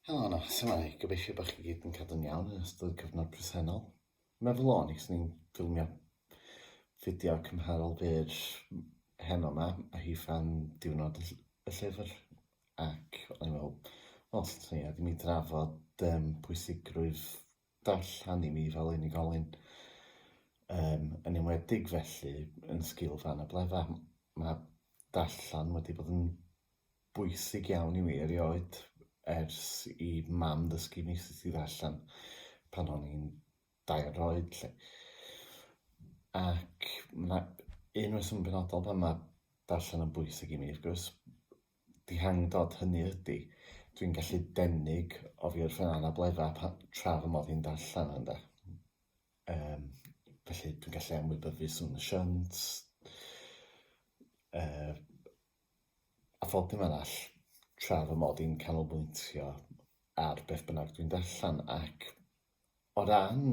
Helo yna, symai, gobeithio bod chi gyd yn cadw'n iawn yn ystod y cyfnod presennol. Meddwl o'n i, ni'n ffilmio fideo cymharol byr heno yma, a hi fan diwrnod y llyfr. Ac o'n i'n meddwl, wel, swn i wedi mi drafod um, pwysigrwydd darllen i mi fel unigolyn. Um, yn enwedig felly yn sgil fan y bledda. Mae darllen wedi bod yn bwysig iawn i mi erioed ers i mam ddysgu fi sut i ddarllen pan o'n i'n dair oed 'lly. Ac ma' 'na un reswm penodol pan ma' darllen yn bwysig i mi wrth gwrs, dihangdod hynny ydi dwi'n gallu denig oddi wrth fy anabledda pa- tra fy mod i'n darllen ynde. Yym felly dwi'n gallu ymwybyddu sŵn y siant, yy a phob dim arall tra fy mod i'n canolbwyntio ar beth bynnag dwi'n darllen ac o ran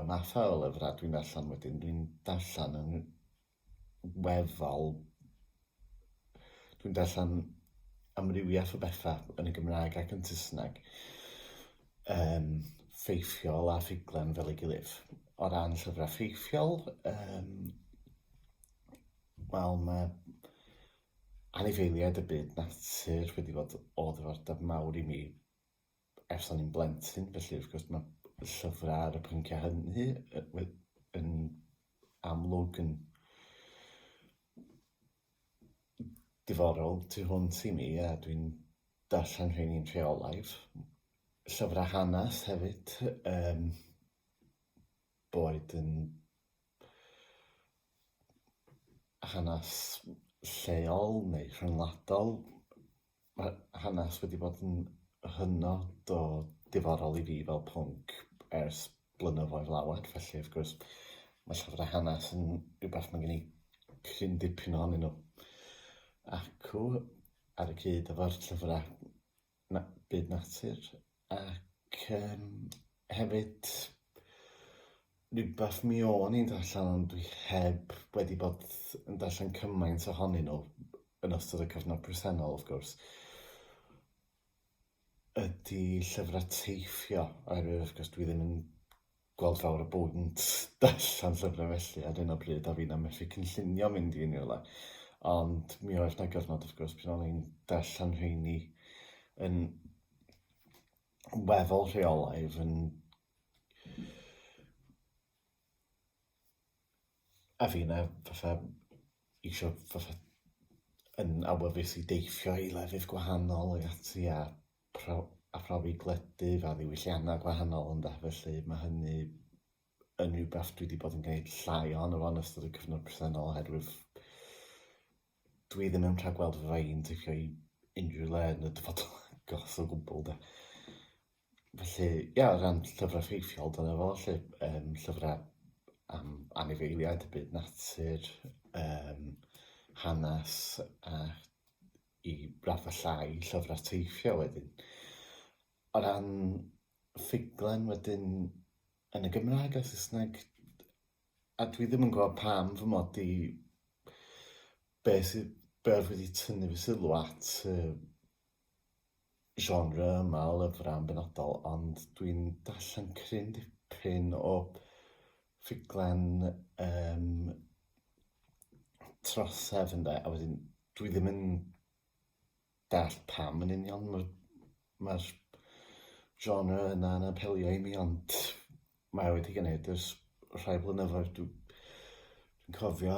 y mathau o lyfrau dwi'n darllen wedyn dwi'n darllen yn weddol dwi'n darllen amrywiaeth o bethau yn y Gymraeg ac yn Saesneg yym ffeithiol a ffuglen fel ei gilydd. O ran llyfrau ffeithiol yym Wel, mae anifeiliaid y byd natur wedi bod o ddiddordeb mawr i mi ers o'n i'n blentyn, felly wrth gwrs mae llyfrau ar y pynciau hynny yn amlwg yn diddorol tu hwnt i mi a dwi'n darllen rheini'n rheolaidd. Llyfrau hanes hefyd, yym boed yn hanes lleol neu rhyngwladol, mae hanes wedi bod yn hynod o diddorol i fi fel pwnc ers blynyddoedd lawer, felly wrth gwrs mae llyfrau hanes yn rhywbeth mae gen i cryn dipyn ohonyn nhw, acw ar y cyd efo'r llyfrau na- byd natur ac yym hefyd rywbeth mi o'n i'n darllen ond dwi heb wedi bod yn darllen cymaint ohonyn nhw yn ystod y cyfnod presennol wrth gwrs ydi llyfrau teithio oherwydd wrth gwrs dwi ddim yn gweld fawr o bobl yn darllen llyfrau felly ar hyn o bryd a fi na methu cynllunio mynd i unrhyw le. Ond mi oedd 'na gyfnod wrth gwrs pan o'n i'n darllen rheini yn weddol rheolaidd yn a fi na fatha eisiau fatha yn awyddus i deithio i lefydd gwahanol ac ati a pro- a phrofi gwledydd a ddiwylliannau gwahanol ynde, felly mae hynny yn rhywbeth dwi wedi bod yn gwneud llai ohono fo yn ystod y cyfnod presennol oherwydd dwi ddim yn rhagweld fy rhain teithio i unrhyw le yn y dyfodol agos o gwbl de. Felly ia o ran llyfrau ffeithiol dyna fo 'lly yym llyfrau am anifeiliaid, byd natur, yym hanes a i raddfa llai llyfrau teithio wedyn. O ran ffuglen wedyn yn y Gymraeg a Saesneg a dwi ddim yn gwybod pam fy mod i... be sydd... be oedd wedi tynnu fy sylw at y genre yma o lyfrau yn benodol, ond dwi'n darllen cryn dipyn o ffuglen um, trosedd ynde, a wedyn dwi ddim yn dall pam yn union mae'r ma genre yna yn apelio i mi, ond mae wedi gwneud ers rhai blynyddoedd. Dwi'n cofio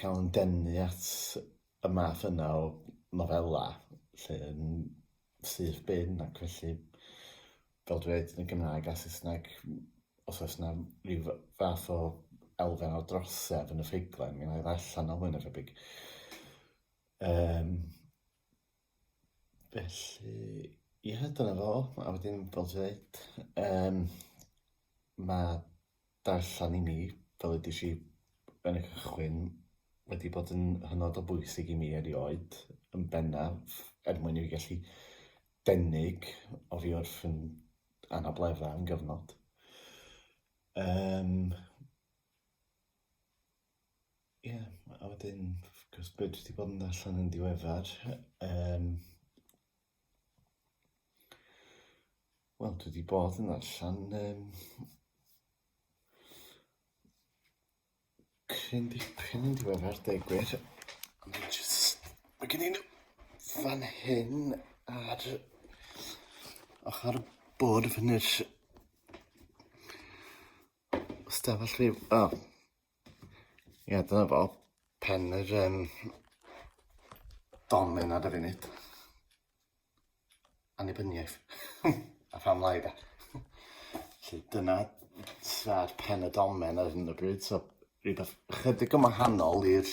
cael yn denu at y math yna o nofela lle yn syth bin ac felly fel dwi dweud yn y Gymraeg a Saesneg os oes 'na ryw fath o elfen o drosedd yn y ffuglen mi 'na i ddarllen o mwy na thebyg. Yym. Felly, ie, dyna fo, a wedyn fel ti ddeud, yym ma' darllan i mi, fel wedes i yn y cychwyn, wedi bod yn hynod o bwysig i mi erioed, yn bennaf er mwyn i fi gallu denig oddi wrth fy anableddau am gyfnod, yym. Ie, a wedyn, wrth gwrs, be dwi wedi bod yn ddarllen yn diweddar, um, wel, dwi wedi bod yn ddarllen um, cryn dipyn yn diweddar, deg gwir. Mae gen i'n fan hyn ar ochr bod fyny'r stafell rhyw... O, Ie, dyna fo. Pen yr um, domen ar y funud. Annibyniaeth. a phan lai da. Felly dyna sa'r pen y domen ar hyn o bryd. So, rhywbeth chydig yn wahanol i'r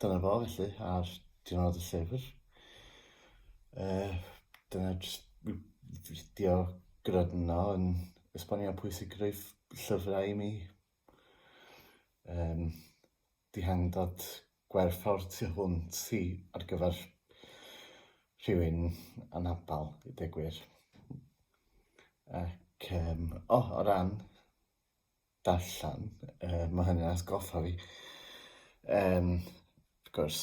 Dyna fo felly ar diwrnod y llyfr. Uh, dyna jyst fideo gradno yn esbonio pwysigrwydd llyfrau i mi. Um, dihangdod gwerthfawr tu hwnt i ar gyfer rhywun anabal i degwyr. Ac, um, o, oh, o ran darllen, uh, mae hynny'n asgoffa fi. Um, wrth gwrs,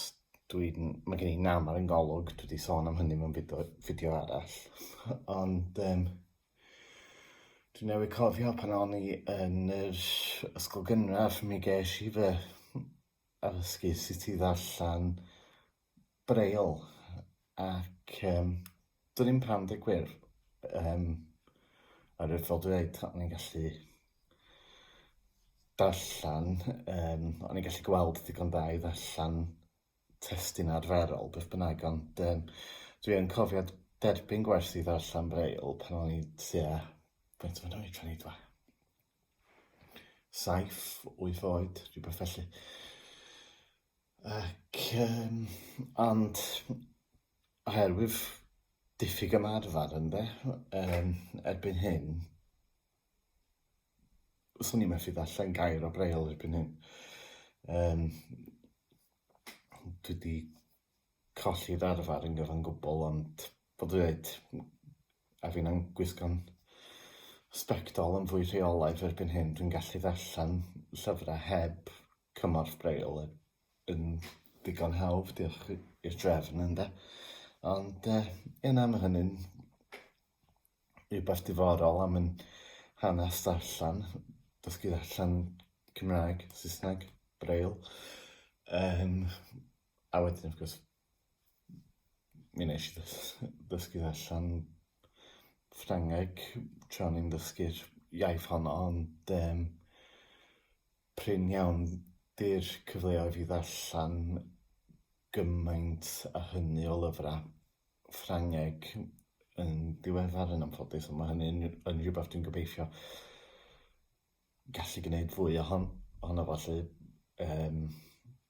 dwi'n, mae gen i nam ar yngolwg, dwi wedi sôn am hynny mewn fideo, fideo arall, ond um, dwi'n newid cofio pan o'n i yn yr ysgol gynradd, mi ges i fy addysgu sut i ddarllen Braille ac yym do'n i'm pam deu gwir yym oherwydd fel dwi ddeud o'n i'n gallu darllen yym o'n i'n gallu gweld digon da i ddarllen testun arferol beth bynnag ond yym dwi yn cofio derbyn gwers i ddarllen Braille pan o'n i tua faint o'n oed o'n i dwa- saith wyth oed rhywbeth felly. Ac yym ond oherwydd diffyg ymarfer ynde yym erbyn hyn swn i'n methu darllen gair o Braille erbyn hyn yym dwi 'di colli'r arfer yn gyfan gwbl ond fel dwi ddeud, m- a finna'n gwisgo'n sbectol yn fwy rheolaidd erbyn hyn, dwi'n gallu ddarllen llyfrau heb cymorth Braille y- yn ddigon hawdd, diolch i- i'r drefn ynde. Ond yy ie na ma' hynny'n rhywbeth diddorol a ma'n hanes darllen, dysgu ddarllen Cymraeg, Saesneg, Braille. Yym a wedyn wrth gwrs mi wnes i ddysgu allan Ffrangeg tra o'n i'n ddysgu'r iaith honno ond yym prin iawn 'di'r cyfleoedd i ddarllan gymaint a hynny o lyfra' Ffrangeg yn diweddar yn anffodus ond ma' hynny'n yn rhywbeth dwi'n gobeithio gallu gneud fwy ohon- ohono fo 'lly yym